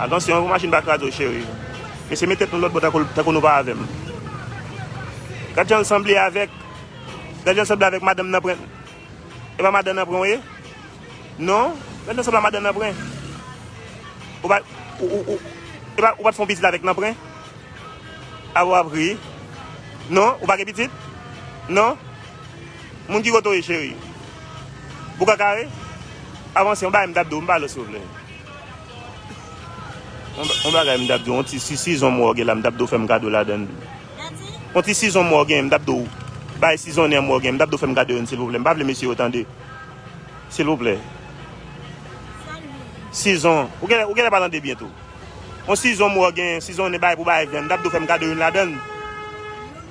Atansyon yon machin pa kraze w cheri. Mesye met tèt nou lòtbò tankou nou pa avèm. Gad janl sanble avèk Gad janl sanble avèk madanm nanpren E pa madan nanpren w ye Non Gad janl sanble a madan nanpren Ou pa E pa ou pat fon pitit avèk nanpren Apa wap ri Non ou pa gen pitit Non Moun ki kote w ye cheri Boukakare Avanse yon bagay m tap di w m pa lòs souple. On bagay m tap diw, on ti sizon mwen w gen la m tap diw fèm kado ladann. On ti sizon mwen w gen, m tap diw bay sizonnen an mwen w gen, m tap diw fèm kado youn silvouplè. M pa vle mesye yo tande. Silvouplè. Sizon, ou genlè ou genlè pa tande byen tou. On sizon mwen w gen, sizonnen bay pou bay vyann, m tap diw fèm kado youn ladann.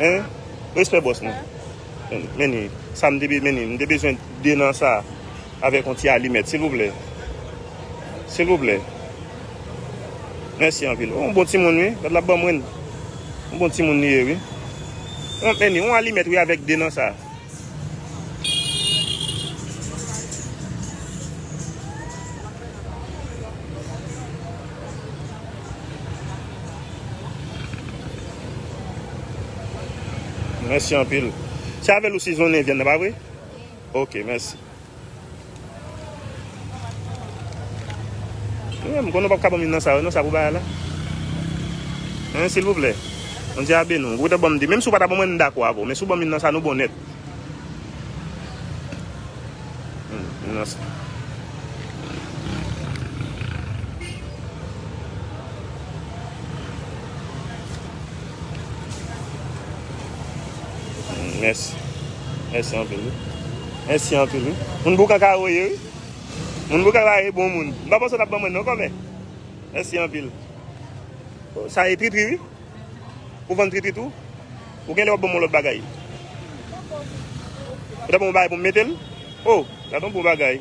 Hein respè bòs mwen. Meni sa m te be meni m te bezwen 2 nan sa avèk yon ti alimèt silvouplè silvouplè mèsi anpil oh yon bon timoun wi gad lap banm ren yon bon timoun li ye wi meni yon alimèt wi avèk 2 nan sa. Mèsi anpil. Se avèl ou sizonnen vyann nan pa vre? Ok mèsi. Mwen m konnen w pap ka banm youn nan sa yo non sa pou bay la hein silvouplè Bondye a beni w ou ta banm 2 menm si w pa ta banm mwen m dakò avè w men si w banm youn nan sa nou bon nèt youn nan sa. Mèsi anpil wi. Mèsi anpil wi. Moun boukan ka woye wi. Moun boukan la e bon moun. M pa panse w tap ban mwen non kòmè. Mèsi anpil. Sa e tritri wi. Ou vann tritri tou. Ou genlè wap ban mwen lòt bagay. Ou ta ban mwen bagay pou m mete l? O, gad yon bon bagay.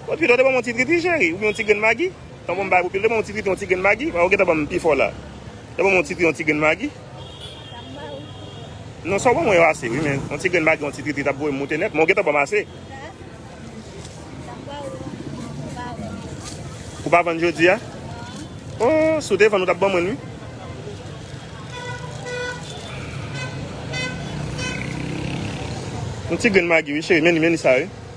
Bon pido te ban mwen yon ti tritri cheri. Oubyen yon ti grenn magi. Tan ban mwen bagay pou pido te ban mwen yon ti tritri yon ti grenn magi. Ou gentan ban m pifò la. Te ban mwen yon titri yon ti grenn magi. Non sa w ban mwen yo ase wi men yon ti grenn bagy yon ti tritrit ap voye m moute nèt men w gentan ban m ase. Ou pa vann jodi a? Oh si w te vann ou tap ban mwen wi. Yon ti grenn magy wi cheri men li men li sa wi.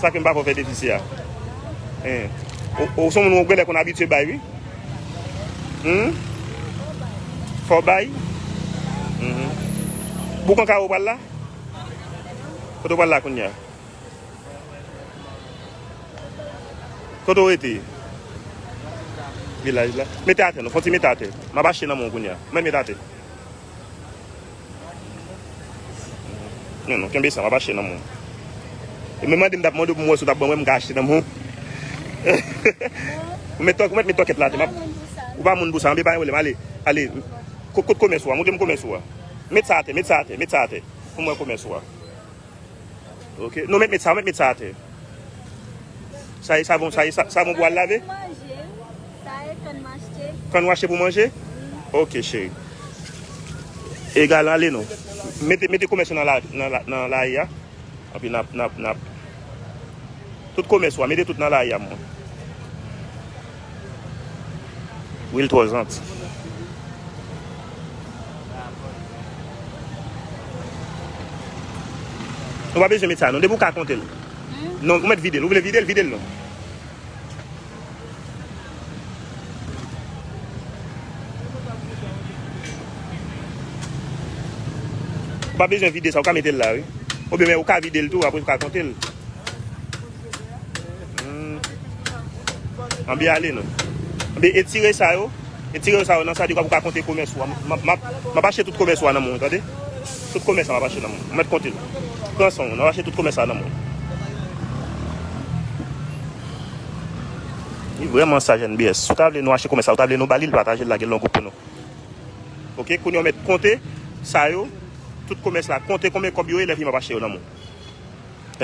Sa kem pako fe depi si a. Eeh. Ou son moun ou genle konn abitye bay wi. Humm. Fo bay. Humm. Boukan karo pral la? Kote ou pral la kounya? Kote ou rete? Vilaj la. Mete ate non. Fon ti mete ate. Map achte nan men ou kounya. Mwen mete ate. Non non kenbe sa map achte nan moun. Ou menm mande m tap mande w pou mwen si w tap ban mwen m ka achte nan moun. Ou met tok ou met met tokèt la te map. Ou pa moun pou sa anbe pa yon problème ale ale kot kot komès ou a montre m komès ou a. Met sa atè met sa atè met sa atè pou mwen komès ou a. Ok non met met sa met met sa atè. Sa e savon sa e savon pou al lave. Sa e kann m achte. Kann w achte pou manje? Wi. Ok cheri. Egal ale nou. Mete mete komès yo nan la ri a. Epi nap nap nap. Tout komès ou a mete tout nan la ri a mwen. Wil twò janti. Nou pa bezwen met sa non. Depi ou ka konte l. Non ou met vide l. Ou vle vide l vide l non. Ou pa bezwen vide sa, ou ka mete l la wi. Ou byen men ou ka vide l tou apre ou ka konte l. An byen ale nou. An byen etire sa yo. Etire yo sa yo nan sa di kwa pou ka konte komès ou. Ma pa che tout komès ou an nan moun, tande? Tout komès an ma pa che nan moun. Mwen te konte l. Prenson, nan pa che tout komès an nan moun. Li vreman saj NBS. Si w ta vle nou achte komès la, ou ta vle nou ba li l, pataje l lage l nan gwoup pou nou. Ok, kounye w mèt konte sa yo, tout komès la, konte konbyen kòb yo ye lè vini m ap achte yo nan men w.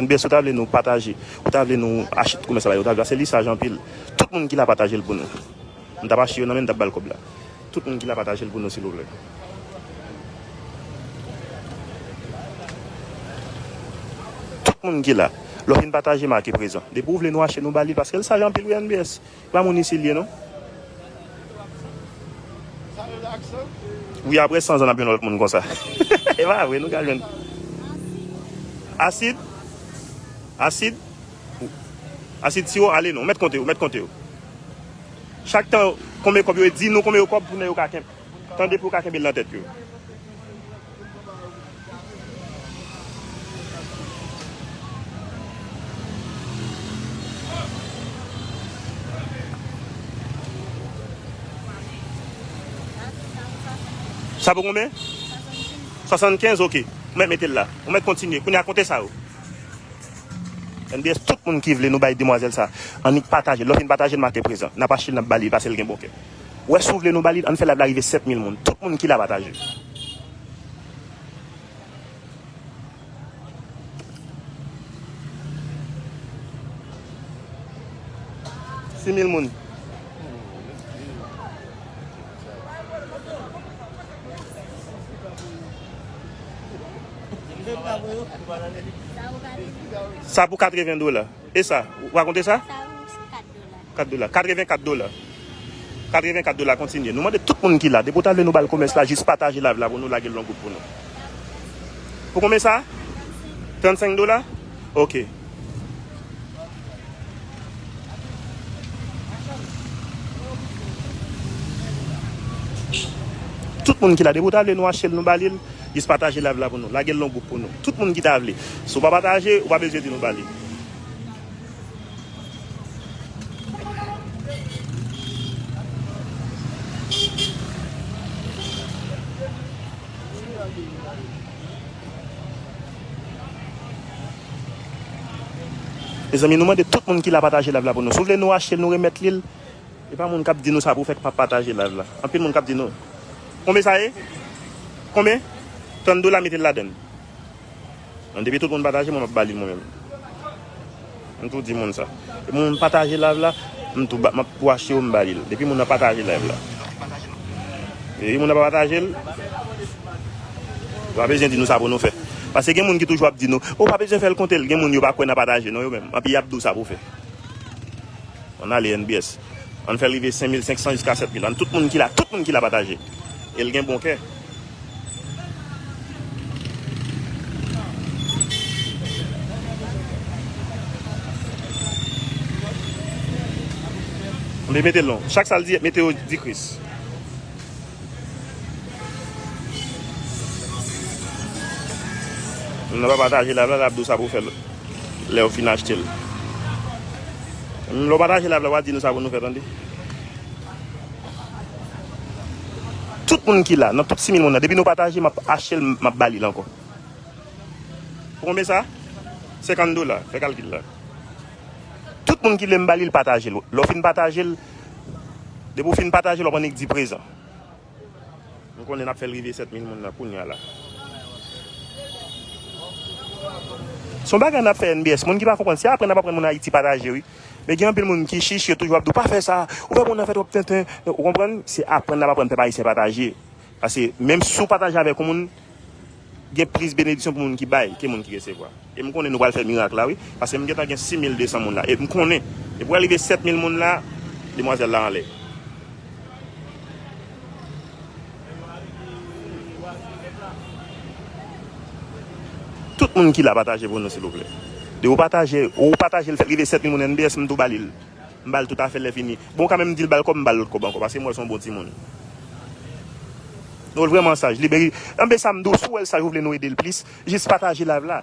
NBS ou ta vle nou pataje, ou ta vle nou achte tout komès la ba yo, ou ta vle, paske li saj anpil. Tout moun ki la pataje l pou nou. M tap achte yo nan men m tap bal kob la tout moun ki la patajel pou nou silvouplè. Tout moun ki la lè w fin pataje make prezan depi w vle nou achte nou bali paske l saj anpil wi NBS se pa moun isi l ye non. Wi aprè 100 zan nap yon lot moun konsa epa vre nou ka jwenn asid asid. Asid siwo ale non. Ou mèt konte yo, mèt konte yo. Chak tan konbyen kòb yo e di nou konbyen yo kòb pou nèg yo ka kenb. Tande pou yo ka kenbe l nan tèt yo. Sa pou konbyen? 75. 75 ok. Ou mèt mete l la. Ou mèt kontinye. Kounye a konte sa yo. MDS tout moun ki vle nou bay demwazèl sa annik pataje l lè w fin pataje l make prezan nap achte l nap ba li pase l gen bon kè wè si w vle nou ba li l ann fè live la rive 7 mil moun tout moun ki la pataje. Sa pou 80 dola. E sa? Ou rakonte sa? Sa pou 4 dola. 4 dola. 84 dola. 84 dola kontinye. Nou mande tout moun ki la. Depi ou ta vle nou bal komès la, jis pataje live la pou nou lage l longou pou nou. Pou konbyen sa? 35 dola. Ok. Tout moun ki la depi ou ta vle nou achel nou balil jis pataje live la pou nou lagel nan gwoup pou nou tout moun ki ta vle si ou pa pataje ou pa bezwen di nou balil Mezanmi nou mande tout moun ki la pataje live la pou nou si w vle nou achte l nou remèt li l epa moun kap di nou sa pou fè k pa pataje live la anpil moun kap di nou konbe sa ye konbe 30 dola mete l ladann bon depi tout moun pataje mwen map ba li l mwen menm. M tou di moun sa. Depi moun pataje live la, m tou map wache yo m ba li l. Depi moun nan pataje live la. Depi moun nan pa pataje l, yo pa bezwen di nou sa pou nou fè. Pase gen moun ki toujou ap di nou, ou pa bezwen fè l konte l. Gen moun yo pa kwè nan pataje non yo menm. Epi yap di w sa pou w fè. An ale NBS. An fè l rive 5500 jiska 7000. An tout moun ki la, tout moun ki la pataje. E l gen bon kè. Mwen mete lon. Chak sal di mete yo di kris. Mwen pa pataje la vla la abdou sa pou fèl. Lè ou fin achte l. Mwen pa pataje la vla wad di nou sa pou nou fèl an di. Tout moun ki la, nan tout 6000 moun nan, depi nou pataje map achte l map ba li l ankò. Pou konbyen sa? 50 dola, fè kalkil la. Tout moun ki vle m ba li l pataje l. Lè w fin pataje l, depi w fin pataje l wap annik di prezan. M konnen nap fè l rive 7000 moun nan kounya la. Son bagay nap fè NBS, moun ki pa konprann, se aprann nap aprann moun Ayiti pataje wi. Men gen anpil moun ki chich yo toujou ap di w pa fè sa, ou fè moun nan fè twòp tenten, ou konprann, se aprann nap aprann pèp ayisyen pataje, paske menm si w pataje avèk yon moun gen plis benediksyon pou moun ki bay ke moun ki resevwa, e m konnen nou pral fè mirak la wi, paske m gentan gen 6200 moun la, e m konnen depi w rive 7000 moun la demwazèl la anlè. Tout moun ki la pataje pou nou silvouplè. De ou pataje, ou patajel fèt rive 7000 moun NBS m tou ba lil. M bal tout afèl lè fini. Bon ka menm dil bal kòb m bal lòt kòb ankò paske m wèl son bon timoun. Nou wèl vrèman saj li meri. NBSAM di w si w wèl saj ou vle nou edel plis jis pataje live la.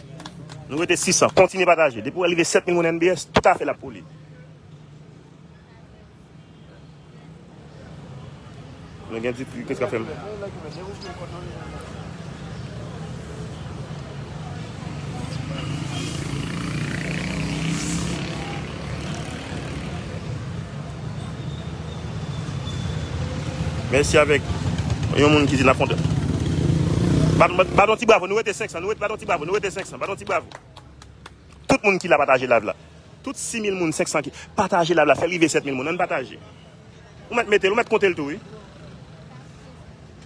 Nou rete 600 kontinye pataje depi ou wè li rive 7000 moun NBS tout afè l ap pou li mwen gen di kris kap fèm. Mèsi avèk yon moun ki di la fonte. Bat yon ti bravo, nou rete 500, nou rete bat yon ti bravo, nou rete 500, bat yon ti bravo. Tout moun ki la pataje live la. Tout 6000 moun, 500 ki pataje live la, fè rive 7000 moun, an pataje. Ou mèt metel, ou mèt kontel tou wi.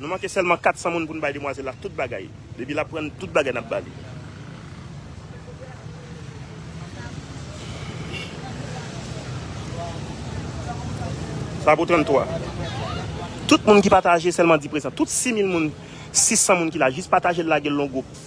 Nou manke sèlman 400 moun pou n bay demwazèl la tout bagay. Depi l aprann tout bagay n ap ba li. Sa pou 33. Tout moun ki pataje sèlman di prezan. Tout 6000 moun, 600 moun ki la jis pataje l lage l lon gwoup.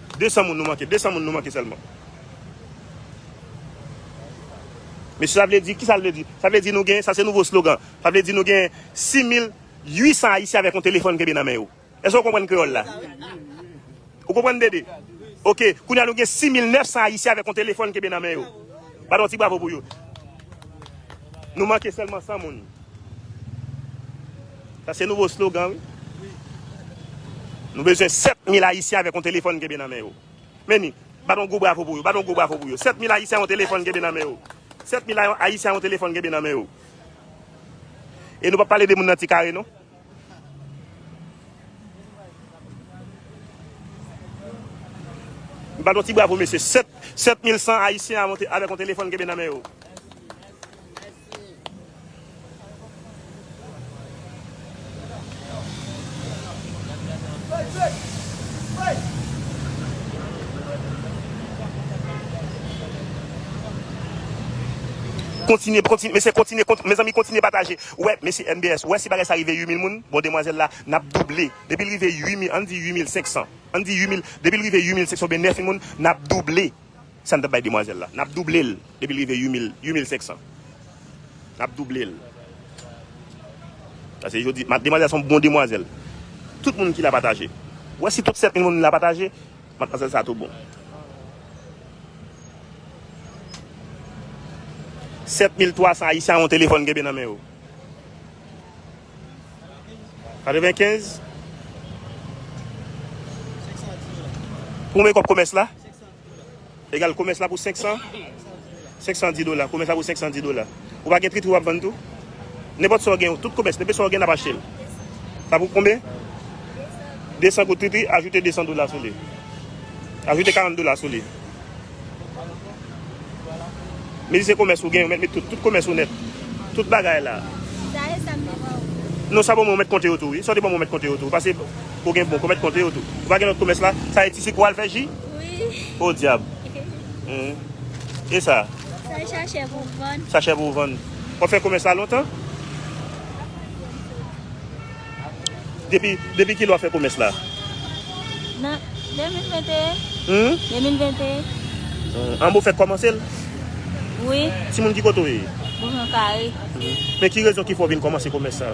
200 moun nou manke 200 moun nou manke sèlman Mesye sa vle di kisa l vle di sa vle di nou gen sa se nouvo slogan sa vle di nou gen 6800 ayisyen avèk yon telefòn kenbe nan men yo èske ou konprann kreyòl la ou konprann dede ok kounye a nou gen 6900 ayisyen avèk yon telefòn kenbe nan men yo. Bat yon ti bravo pou yo. Nou manke sèlman 100 moun. Sa se nouvo slogan wi. Nou bezwen 7000 ayisyen avèk yon telefòn kenbe nan men yo. Meni, bat yon gwo bravo pou yo. Bat yon gwo bravo pou yo. 7000 ayisyen yon telefòn kenbe nan men yo. 7000 ayisyen yon telefòn kenbe nan men yo. E nou pap pale de moun nan ti kare non. M bat yon ti bravo mesye. 7 7100 ayisyen avek yon telefon kenbe nan men yo. Mezanmi kontinye pataje. Ou wè mesye MBS ou wè si bagay sa rive 8000 moun bon demwazèl la nap double depil rive 8000 ann di 8500 ann di 8000 depil rive 8500 oubyen 9000 moun nap double sa n tap bay demwazèl la nap double l depil rive 8000 8500 nap double l pase jodi demwazèl son bon demwazèl tout moun ki la pataje ou wè si tout 7000 moun la pataje Matmazel sa tou bon. 7300 ayisyen a yon telefòn genbe nan men yo. 95 Pou mwen kòb komès la? Egal, komès la pou 500, 510 dola. Komès la pou 510 dola. Ou pa gen tritri w ap vann tou? Nenpòt sa w gen, tout komès, nenpe sa w gen n ap achte l. Sa pou konbe? 200 goud tritri, ajoute 200 dola sou li. Ajoute 40 dola sou li. Mezi se komès ou gen, ou met met tout. Tout komès ou net. Tout bagay la. Non, sa bon mwen met konte yo tou. Sa te bon mwen met konte yo tou. Pase, ou gen bon, mwen met konte yo tou. Ou pa gen lòt komès la? Sa e ti sik ou al fè ji? Oh diab. E sa? Se sachè pou w vann. Sachè pou w vann. Wap fè komès la lontan? Depi, depi kilè wap fè komès la? Nan 2021. Humm? 2021. An Bofèt kòmanse l? Wi. Timoun ki kote w ye? Bofèt kare. Men ki rezon ki fè w vin kòmanse komès sa?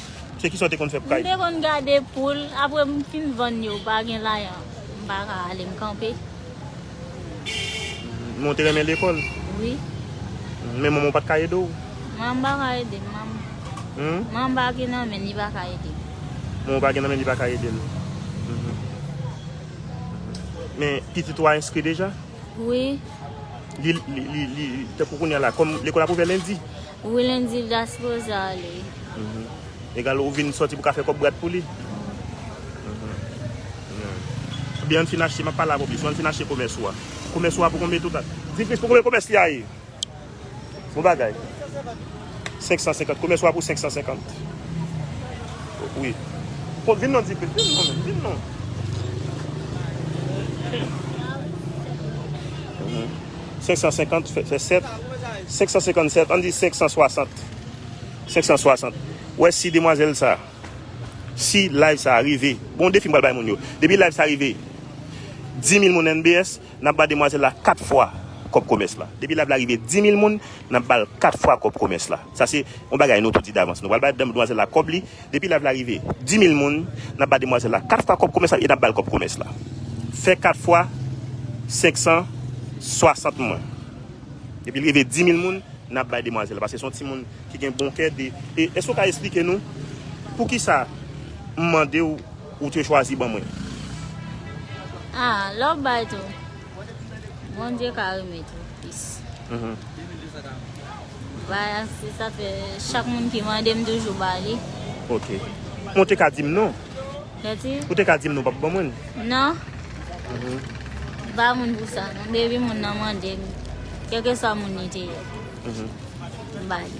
Se kisa w te konn fè pou kay? M te konn gade poul, apre m fin vann yo, m pa gen lajan, m pa ka ale, m kanpe. Men w te renmen lekòl? Wi. Men manman w pa t ka ede w? Manman m pa ka ede m. Manman m pa gen nan men l, li pa ka ede m. Manman w pa gen nan men l, li pa ka ede l. Men pitit ou a enskri deja? Wi. Li, li, li, li, tankou kounya la, kòm lekòl ap ouvè lendi. Willen di Vdas poze ale. Egal ou vin soti pou ka fè kòb brat pou li. Byen ann fin achte map pale avèw plis ou ann fin achte komès ou a komès ou a pou konbe tout a. Di plis pou konbe komès li a ye. Bon bagay. 550 komès ou a pou 550 wi. Kon vin non di plis vin non menm vin non. 550 fè 7 557 ann di 560 560 ou wè si demwazèl sa si live sa rive bon defi m pral bay moun yo depi live sa rive 10000 moun NBS n ap ba demwazèl la 4 fwa kòb komès la depi live la rive 10000 moun n ap ba l 4 fwa kòb komès la sa se yon bagay nou tou di davans nou pral bay demwazèl la kòb li. Depi live la rive 10000 moun nap ba demwazel la 4 fwa kòb komès la e nap bal kòb komès la fè 4 fwa 560 moun depil rive 10000 moun nap bay demwazel la paske son ti moun ki gen bon kè de e èske ou ka esplike nou poukisa m mandew ou te chwazi ban mwen. Ah love bay tou. Bondye ka remet ou plis. Baya se sa fe chak moun ki mande m toujou ba li. Ok. Ou te ka dim non. Kati? Ou te ka dim non pap ban mwen. Non. Mhm. Ba moun pou sa non. Depi moun nan mande m. Kèlke sa moun ni te ye. Mhm. Ba li.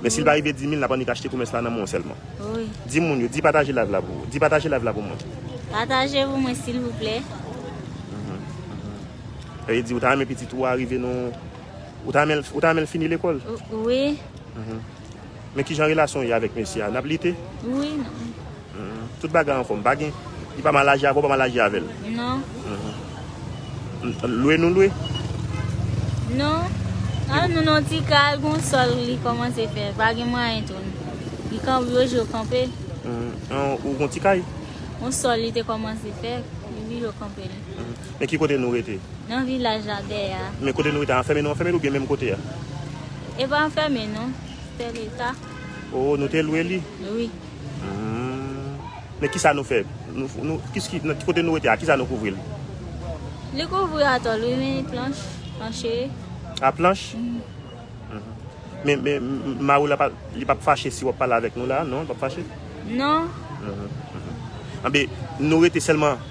Men sil pa rive 10000 nap annik achte komès la nan men w sèlman. Di moun yo, di pataje live la pou ou. Di pataje live la pou mwen. Pataje pou mwen silvouplè. Epi di ou ta renmen pitit ou a rive nan Ou ta renmen l fini lekòl? Wi. Men kijan relasyon ou ye avèk mesye a? Nap lite? Wi. Tout bagay anfom pa gen. Li pa mal aji avè w pa mal aji avè l. Non. Lwe nou lwe? Non. An nou nan ti kal gon sol li komanse fè. Pa gen mwayen tou. Li kan yo je yo kanpe. An ou gon ti kay? Gon sol li te komanse fè. Li bi yo kanpe li. Men ki kote nou rete? Nan vilaj la dè ya. Men kote nou rete anfeme nou anfeme l ou byen menm kote ya? E pa anfeme non. Se te leta. O nou te lwe li? Wi. Men kisa nou fè? Kote nou rete a, kisa nou kouvri l? Li kouvri atòl wi men planch, planche. A planch? Men mari w la li pap fache si wap pale avèk nou la, non li pap fache? Non. Anben nou rete sèlman.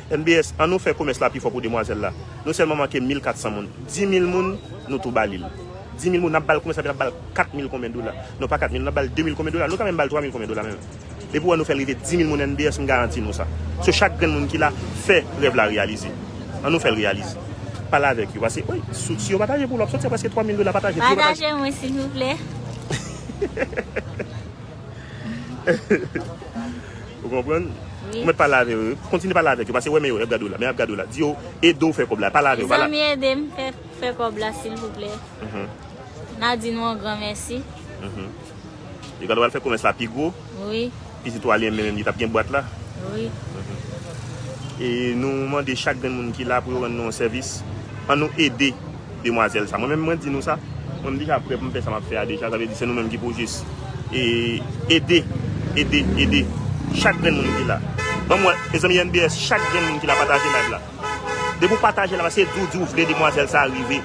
MBS, An nou fè komès la pi fò pou demwazèl la. Nou sèlman manke mil kat san moun. Di mil moun, nou tou ba li l. Di mil moun, n ap ba l komès la, epi n ap ba l kat mil konbyen dola. Non pa kat mil, n ap ba l de mil konbyen dola. Nou ka menm ba l twa mil konbyen dola menm. Depi w an nou fè l rive di mil moun MBS, m garanti nou sa. So chak grenn moun ki la, fè rèv la reyalize. An nou fè l reyalize. Pale avèk yo. Pase, wi, sou, si yo pataje pou ou l ap soti a prèske twa mil dola. Pataje, si yo pataje. Pataje mwen silvouplè. Ou konprann? Ou mèt pale avè yo. Kontinye pale avèk yo. Pase wè men yo, y ap gade w la. Men y ap gade w la. Di yo ede w fè kòb la. Pale avè yo. Mezanmi ede m fè kòb la silvouplè. N a di nou yon gran mèsi. Yo pral wè fè komès la pi gwo. Pitit ou a li menm menm li t ap gen bwat la. E nou mande chak grenn moun ki la pou yo rann nou yon sèvis. An nou ede. demwazèl sa mwen menm mwen di nou sa mwen m deja prè pou m fè sa map fè a deja sa vle di se nou menm ki pou jis ede ede ede chak grenn moun ki la banm wè mezanmi NBS chak grenn moun ki la pataje live la depi w pataje la se di w di w vle demwazèl sa rive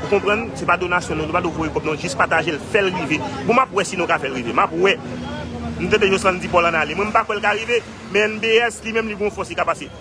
ou konprann se pa donasyon non nou pa dwe voye kòb non jis pataje l fè l rive bon map wè si nou ka fè l rive map wè m tande Joslande di Paul an ale mwen m pa kwè l ka rive men NBS li menm li gon fòs li ka pase.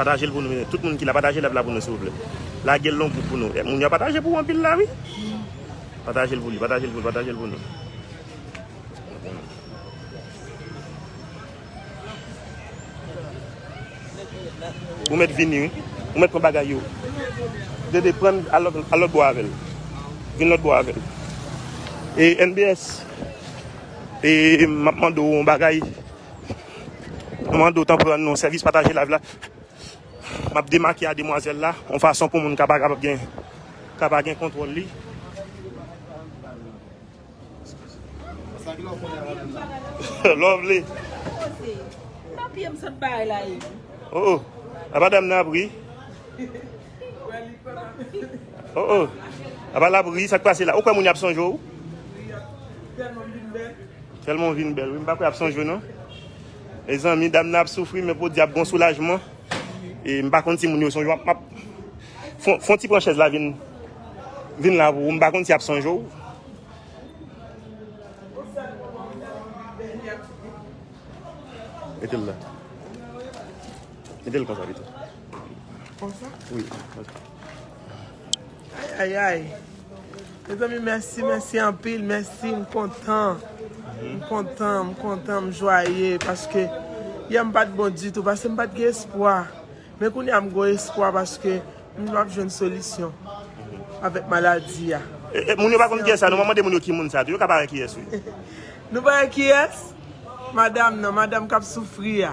Patajel pou nou tout moun ki la pataje live la pou nou silvouplè lagel nan group pou nou moun yo ap pataje pou ou anpil la wi patajel pou li patajel pou li patajel pou nou. Ou met vini wi ou met pran bagay yo dede pran al lòt bò avèl vin lòt bò avèl e NBS e map mande ou yon bagay. Nou mande w tanpri rann nou sèvis pataje live la. Map demake a demwazèl la yon fason pou moun ka pa kapab gen ka pa gen kontwòl li. Lovely. Nan pye m sot bay la e. Oh oh. A pa dam nan ap ri. Oh oh. A pa la ap ri sak pase la. Ou kwè moun y ap sonje ou? Telman ou vin bel wi m pa kwè ap sonjew non Mezanmi dam nan ap soufri men podyè ap gon soulajman e m pa konn si moun yo sonjew map fon ti pran chèz la vin vin la pou ou m pa konn si yap sonjew Metel la Metel konsa pito Konsa? Wi konsa Ayayay Mezanmi mèsi mèsi anpil mèsi m kontan M kontan m kontan m jwaye paske yè m pat bon ditou paske m pat gen espwa men kounye a m gon espwa paske m di map jwenn solisyon avèk maladi a. Moun yo pa konn kiyès la nou mwen mande moun yo ki moun sa tou yo ka pa wè kiyès wi. Nou pa wè kiyès? Madam nan, madam kap soufri a.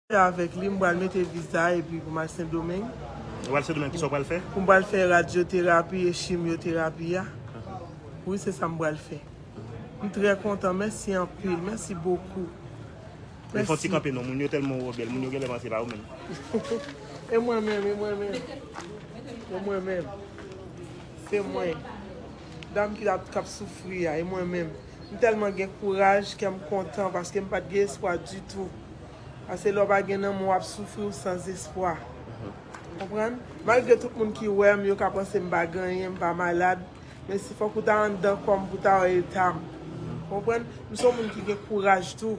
Mwen avèk li, m pral mete viza epi pou m al Sendomeng. Ou al Sendomeng, kisa ou pral fè? M pral fè radyoterapi e chimyoterapi a. Wi, se sa m pral fè. M trè kontan, mèsi anpil, mèsi bokou. Mèsi. Fon ti kanpe non, moun yo tèlman wè w bèl, moun yo genlè panse se pa ou menm. E mwen menm, e mwen menm. E mwen menm. Se mwen. Dam ki la, k ap soufri a, e mwen menm. M tèlman gen kouraj, kè m kontan paske m pa t gen espwa ditou. Pase lè w pa gen lanmou w ap soufri w san zespwa. Ou konprann? Malgre tout moun ki wè m yo ka panse m pa gen anyen, m pa malad, men si fòk ou ta anndan kò m pou w ta wè eta m. Ou konprann? M se yon moun ki gen kouraj tou.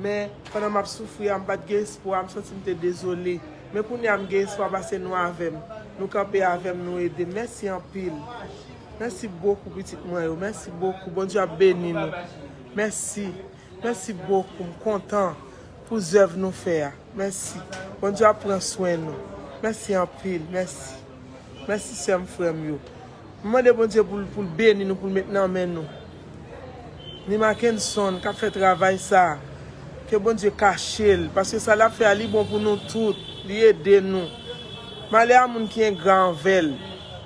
Men, pandan m ap soufri a, m pa t gen espwa, m santi m te dezole. Men kounye a m gen espwa pase nou avè m. Nou kanpe avè m, nou ede m. Mèsi anpil. Mèsi bokou pitit mwen yo. Mèsi bokou. Bondye ap beni nou. Mèsi. Mèsi bokou m kontan pou zèv nou fè a mèsi Bondye ap pran swen nou mèsi anpil mèsi mèsi sè m frè m yo m mande Bondye pou l pou l beni nou pou l met nan men nou ni Makenson kap fè travay sa ke Bondye kache l paske sa lap fè a li bon pou nou tout li ede nou malè a moun ki engra anvè l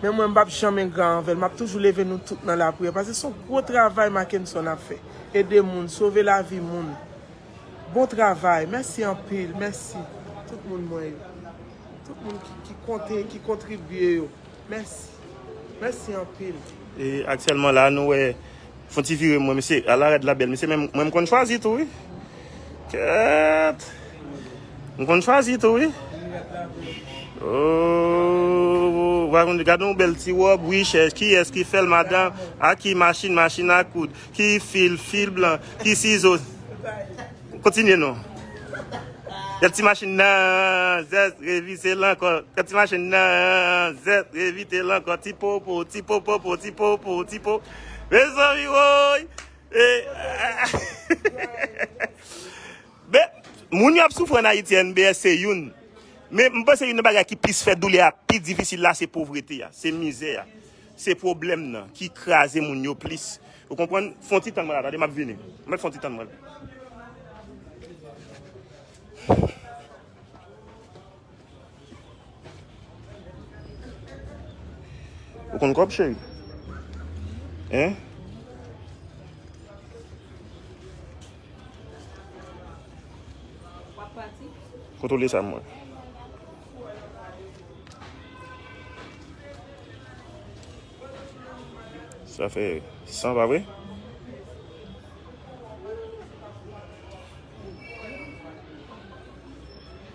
men mwen m pap janm engra anvè l map toujou leve nou tout nan lapriyè paske son gwo travay Makenson ap fè. Ede moun, sove lavi moun. Bon travay. Mèsi anpil. Mèsi. Tout moun mwen yo. Tout moun ki konte, ki kontribye yo. Mèsi. Mèsi anpil. E aktyèlman la nou wè. Fon ti vire mwen mesye. A la rèd la bèl mesye men mwen m konn chwazi tou wi. Kèèt! M konn chwazi tou wi. Ooh! Vwa konn di gad yon bèl ti wòb wi chè. Kiyès ki fèl madan? Ak ki machin? Machin a koud. Ki fil? Fil blan. Ki sizo? Kontinye non. Gad ti machin nan! Zèz! Revise l ankò. Gad ti machin nan! Zèz! Revite l ankò. Ti popo! Ti popopo! Ti popo! Ti po. Mezanmi woy! Men, moun yo ap soufri an Ayiti a NBS se youn. Men, m panse youn nan bagay ki plis fè doulè a pi difisil la se povrete a, se mizè a. Se pwoblèm nan ki kraze moun yo plis. Ou konprann? Fon ti tann mwen la, tande m ap vini. Mèt fon ti tann mwen. Ou konn kòb cheri? Hein? Wap pati? Kontrole sa mwen. Sa fè 100 pa vre?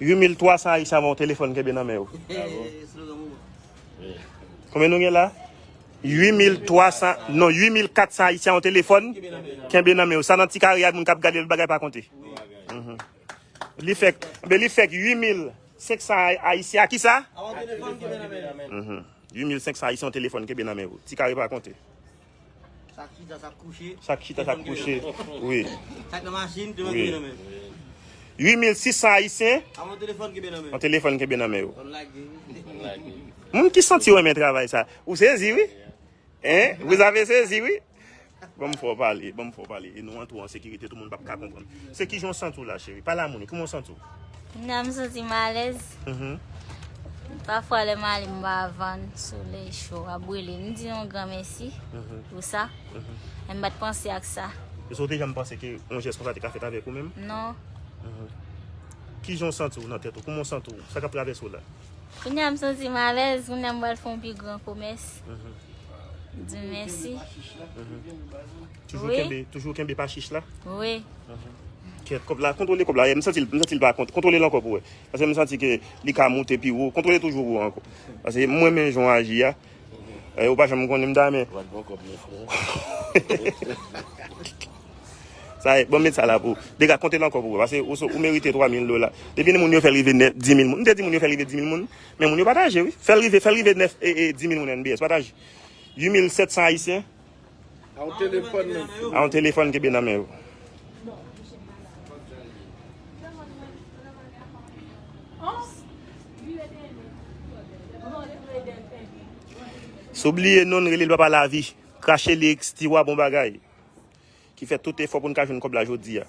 8300 Ayisyen ap yon telefòn kenbe nan men yo. Konbyen nou gen la? 8300, non 8400 Ayisyen yon telefòn kenbe nan men yo. Sa nan ti kare a moun kap gade l bagay pa konte. Mhm. Li fèk, be li fèk 8500 Ayisyen a ki sa? 8500 Ayisyen yon telefòn kenbe nan men yo. Ti kare pa konte. Sak chita sak kouche. Sak chita sak kouche. Wi. Sak nan machin telefòn kenbe nan men. 8600 ayisyen. Avon telefòn kenbe nan men. Avon telefòn kenbe nan men yo. Kon lage. Kon lage. Moun ki santi yo men travay sa. Ou sezi wi. Hein? Vous avez sezi wi. Bon m fò pale. Bon m fò pale. E nou an tou an sekirite tou moun pap ka konprann. Se kijan w santi w la cheri? Pale a moun yo, kiman w santi w? Nan m santi m alèz. Pafwa lè m ale m ba van solèy cho a brile. M di yon gran mèsi pou sa. Men m pa t panse ak sa. Esou w te janm panse ke yon jès konsa te ka fèt avèk ou menm? Non. Kijan w santi w nan tèt ou? Kouman w santi w? Sa k ap travèse w la? Kounya m santi m alèz. Kounya m pral fè yon pi gran komès. M di mèsi. Toujou kenbe, toujou kenbe pa chich la. Wi. Kèt kòb la, kontwole kòb la. M santi, m santi l pa kont. Kontwole l ankò pou wè. Pase m santi ke li ka moute pi wo. Kontwole toujou wo ankò. Pase m renmen jan w aji a. Ou pa janm konnen m ta men. Wap pran kòb nèf non. Sa e, bon m met sa la pou ou. Dega, konte l ankò pou wè. Pase ou merite 3000 dola. Depi ni moun yo fè l rive 10000 moun. M te di moun yo fè l rive 10000 moun. Men moun yo pataje wi. Fè l rive, fè l rive 9, 10000 moun NBS. Pataje. 8700 ayisyen. A yon telefòn kenbe nan men yo. Sou bliye non rele l papa lavi. Krache li ekstiwa bon bagay. Ki fè tout efò pou n ka jwenn kòb la jodi a.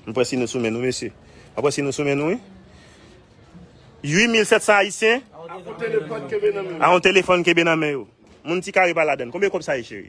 Mwen pwè si nou soumen nou mesye. Mwen pwè si nou soumen nou. 8700 ayisyen. A yon telefon kebe nan men yo. Moun ti kare pa ladan. Konbe kòb sa ye cheri?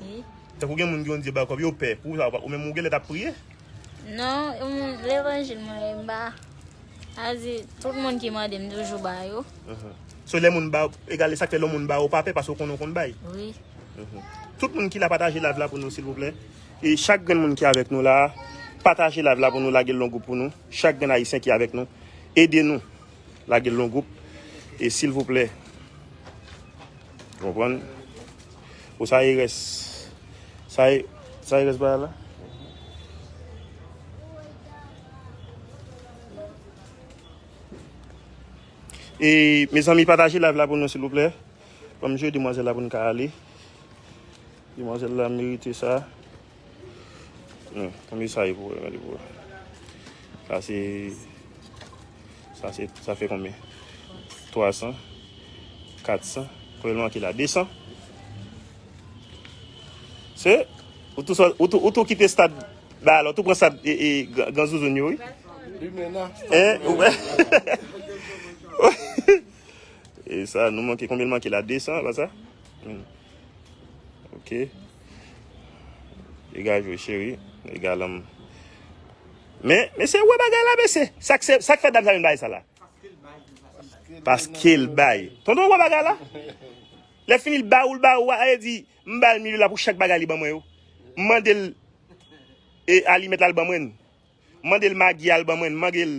Wi. Tankou gen moun ki konn di bay kòb yo pè. Pou sa ou menm ou genlè tap priye? Non, levanjil mwen yo mba a di tout moun ki mande m toujou ba yo. So lè moun ba ou, egal esak fè lè moun ba ou pa pè paske ou konnen ou konn bay? Wi. Tout moun ki la pataje live la pou nou silvouplè. E chak grenn moun ki avèk nou la, pataje live la pou nou lagel longoup pou nou. Chak grenn ayisyen ki avèk nou, ede nou lagel longoup e silvouplè. Ou konprann? Bon sa e res. Sa e sa e res ba la. E mes amis pataje live la pou nou s'il vous plaît. Pou m jwe demoiselle la pou n ka ale. Demoiselle la merite sa. Non, konbyen sa ye pou wè, gade pou wè. Sa se, sa se, sa fè konbyen? 300, 400, pou yon manke la, 200. Se, ou tou, ou tou, ou tou kite stad, ba alò, ou tou pran stad, e, e, gran zouzoun yo, oui. Limena. Hein, ou wè. E sa, nou manke, konbyen manke la, 200, ba sa? Ok. Dega jwe cheri. Dega lanm. Men, men se wè bagay la men se. Sak se, sak fè dam sa vin bay sa la. Paske l bay. Tonton wè bagay la. Lè fini l ba ou l ba ou a. A e di, m ba l mil la pou chak bagay li ban mwen yo. M mande l e alimèt la l ban mwen. M mande l magi a l ban mwen. M mande l.